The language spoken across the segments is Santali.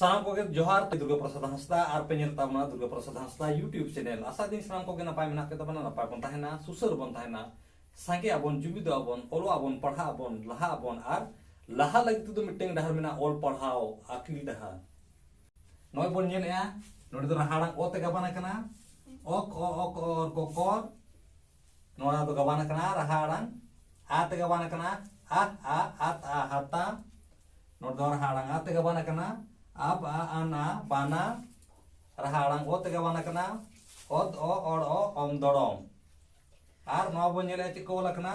ᱥᱟᱱᱟᱢ ᱠᱚᱜᱮ ᱡᱚᱦᱟᱨ ᱛᱮ ᱫᱩᱨᱜᱟ ᱯᱨᱚᱥᱟᱫ ᱦᱟᱸᱥᱫᱟ ᱟᱨ ᱯᱮ ᱧᱮᱞ ᱛᱟᱵᱚᱱᱟ ᱫᱩᱨᱜᱟ ᱯᱨᱚᱥᱟᱫ ᱦᱟᱸᱥᱫᱟ ᱭᱩᱴᱤᱭᱩᱵᱽ ᱪᱮᱱᱮᱞ ᱟᱥᱟ ᱫᱤᱱ ᱥᱟᱱᱟᱢ ᱠᱚᱜᱮ ᱱᱟᱯᱟᱭ ᱢᱮᱱᱟᱜ ᱯᱮ ᱛᱟᱵᱚᱱᱟ ᱱᱟᱯᱟᱭ ᱵᱚᱱ ᱛᱟᱦᱮᱱᱟ ᱥᱩᱥᱟᱹᱨ ᱵᱚᱱ ᱛᱟᱦᱮᱱᱟ ᱥᱟᱸᱜᱮ ᱟᱵᱚᱱ ᱡᱩᱢᱤᱫ ᱟᱵᱚᱱ ᱚᱞᱚᱜ ᱟᱵᱚᱱ ᱯᱟᱲᱦᱟᱜ ᱟᱵᱚᱱ ᱞᱟᱦᱟ ᱟᱵᱚᱱ ᱟᱨ ᱞᱟᱦᱟ ᱞᱟᱹᱜᱤᱫ ᱛᱮᱫᱚ ᱢᱤᱫᱴᱟᱝ ᱰᱟᱦᱟᱨ ᱢᱮᱱᱟᱜᱼᱟ ᱚᱞ ᱯᱟᱲᱦᱟᱣ ᱟᱹᱠᱤᱞ ᱰᱟᱦᱟᱨ ᱱᱚᱜᱼᱚᱭ ᱵᱚᱱ ᱧᱮᱞᱮᱜᱼᱟ ᱱᱚᱰᱮ ᱫᱚ ᱨᱟᱦᱟᱲᱟᱝ ᱚ ᱛᱮ ᱜᱟᱵᱟᱱ ᱟᱠᱟᱱᱟ ᱚᱠ ᱚ ᱚᱠ ᱚᱨ ᱠᱚ ᱠᱚᱨ ᱱᱚᱣᱟ ᱫᱚ ᱜᱟᱵᱟᱱ ᱟᱠᱟᱱᱟ ᱨᱟᱦᱟᱲᱟᱝ ᱟ ᱛᱮ ᱜᱟᱵᱟᱱ ᱟᱠᱟᱱᱟ ᱟ ᱟ ᱟᱛ ᱟ ᱦᱟᱛᱟ ᱱᱚᱰᱮ ᱫᱚ ᱨᱟᱦᱟᱲᱟᱝ ᱟ ᱛᱮ ᱜᱟᱵᱟᱱ ᱟᱠᱟᱱᱟ ᱟᱵ ᱟ ᱟᱱᱟ ᱵᱟᱱᱟ ᱨᱟᱦᱟᱲᱟᱝ ᱚ ᱛᱮ ᱜᱟᱵᱟᱱ ᱟᱠᱟᱱᱟ ᱚᱛ ᱚ ᱚᱲ ᱚ ᱚᱢ ᱫᱚᱲᱚᱢ ᱟᱨ ᱱᱚᱣᱟ ᱵᱚᱱ ᱧᱮᱞᱮᱜᱼᱟ ᱪᱮᱫ ᱠᱚ ᱚᱞ ᱟᱠᱟᱱᱟ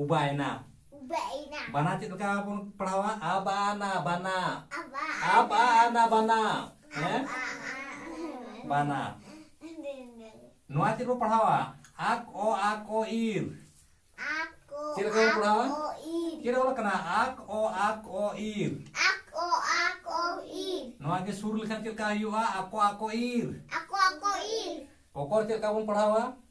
ᱩᱵᱟᱭᱱᱟ ᱩᱵᱟᱭᱱᱟ ᱵᱟᱱᱟ ᱪᱮᱫ ᱞᱮᱠᱟ ᱵᱚᱱ ᱯᱟᱲᱦᱟᱣᱟ ᱟᱵᱟᱱᱟ ᱵᱟᱱᱟ ᱟᱵᱟᱱᱟ ᱵᱟᱱᱟ ᱦᱮᱸ ᱵᱟᱱᱟ ᱱᱚᱣᱟ ᱪᱮᱫ ᱵᱚᱱ ᱯᱟᱲᱦᱟᱣᱟ ᱟᱠ ᱚ ᱟᱠ ᱚ ᱤᱨ ᱪᱮᱫ ᱞᱮᱠᱟ ᱵᱚᱱ ᱯᱟᱲᱦᱟᱣᱟ ᱪᱮᱫ ᱚᱞ ᱠᱟᱱᱟ ᱟᱠ ᱚ ᱟᱠ ᱚ ᱤᱨ ᱟᱠ ᱚ ᱟᱠ ᱚ ᱤᱨ ᱱᱚᱣᱟ ᱜᱮ ᱥᱩᱨ ᱞᱮᱠᱷᱟᱱ ᱪᱮᱫ ᱞᱮᱠᱟ ᱦᱩᱭᱩᱜᱼᱟ ᱟᱠᱚ ᱟᱠᱚ ᱤᱨ ᱟᱠᱚ ᱟᱠᱚ ᱤᱨ ᱚᱠᱚᱨ ᱪᱮᱫ ᱞᱮᱠᱟ ᱵᱚᱱ ᱯᱟᱲᱦᱟᱣᱟ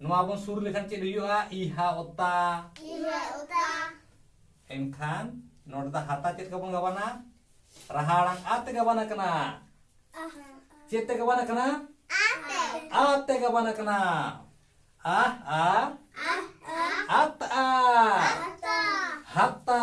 ᱱᱚᱣᱟ ᱵᱚᱱ ᱥᱩᱨ ᱞᱮᱠᱷᱟᱱ ᱪᱮᱫ ᱦᱩᱭᱩᱜᱼᱟ ᱤᱦᱟ ᱚᱛᱟ ᱤᱦᱟ ᱚᱛᱟ ᱮᱱᱠᱷᱟᱱ ᱱᱚᱰᱮ ᱫᱚ ᱦᱟᱛᱟ ᱪᱮᱫ ᱠᱟ ᱵᱚᱱ ᱜᱟᱵᱟᱱᱟ ᱨᱟᱦᱟ ᱟᱲᱟᱝ ᱟ ᱛᱮ ᱜᱟᱵᱟᱱ ᱟᱠᱟᱱᱟ ᱪᱮᱫ ᱛᱮ ᱜᱟᱵᱟᱱ ᱟᱠᱟᱱᱟ ᱟ ᱛᱮ ᱟ ᱛᱮ ᱜᱟᱵᱟᱱ ᱟᱠᱟᱱᱟ ᱟ ᱟ ᱟᱛᱟ ᱦᱟᱛᱟ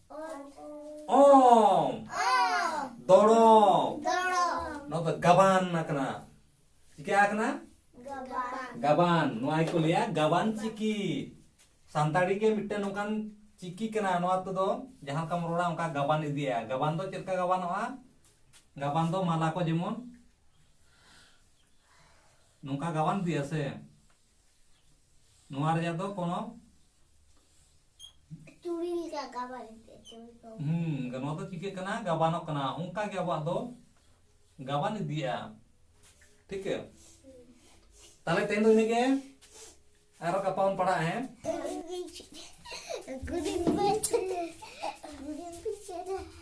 ᱚᱢ ᱫᱚᱲᱚᱢ ᱱᱚᱣᱟ ᱫᱚ ᱜᱟᱵᱟᱱ ᱟᱠᱟᱱᱟ ᱪᱤᱠᱟ ᱟᱠᱟᱱᱟ ᱜᱟᱵᱟᱱ ᱱᱚᱣᱟ ᱜᱮᱠᱚ ᱞᱟᱹᱭᱟ ᱜᱟᱵᱟᱱ ᱪᱤᱠᱤ ᱥᱟᱱᱛᱟᱲᱤ ᱜᱮ ᱢᱤᱫᱴᱮᱱ ᱱᱚᱝᱠᱟᱱ ᱪᱤᱠᱤ ᱠᱟᱱᱟ ᱱᱚᱣᱟ ᱛᱮᱫᱚ ᱡᱟᱦᱟᱸ ᱞᱮᱠᱟᱢ ᱨᱚᱲᱟ ᱚᱱᱠᱟ ᱜᱟᱵᱟᱱ ᱤᱫᱤᱭᱟ ᱜᱟᱵᱟᱱ ᱫᱚ ᱪᱮᱫ ᱞᱮᱠᱟ ᱜᱟᱵᱟᱱᱚᱜᱼᱟ ᱜᱟᱵᱟᱱ ᱫᱚ ᱢᱟᱞᱟ ᱠᱚ ᱡᱮᱢᱚᱱ ᱱᱚᱝᱠᱟ ᱜᱟᱵᱟᱱ ᱤᱫᱤᱭᱟ ᱥᱮ ᱱᱚᱣᱟ ᱨᱮᱭᱟᱜ ᱫᱚ ᱠᱳᱱᱳ ᱪᱩᱲᱤ ᱞᱮᱠᱟ ᱜᱟᱵᱟᱱ ᱦᱩᱸ ᱱᱚᱣᱟ ᱫᱚ ᱪᱤᱠᱟᱹᱜ ᱠᱟᱱᱟ ᱜᱟᱵᱟᱱᱚᱜ ᱠᱟᱱᱟ ᱚᱱᱠᱟ ᱜᱮ ᱟᱵᱚᱣᱟᱜ ᱫᱚ ᱜᱟᱵᱟᱱ ᱤᱫᱤᱜᱼᱟ ᱴᱷᱤᱠ ᱜᱮᱭᱟ ᱛᱟᱦᱞᱮ ᱛᱮᱦᱮᱧ ᱫᱚ ᱤᱱᱟᱹᱜᱮ ᱟᱨᱚ ᱜᱟᱯᱟ ᱵᱚᱱ ᱯᱟᱲᱦᱟᱜᱼᱟ ᱦᱮᱸ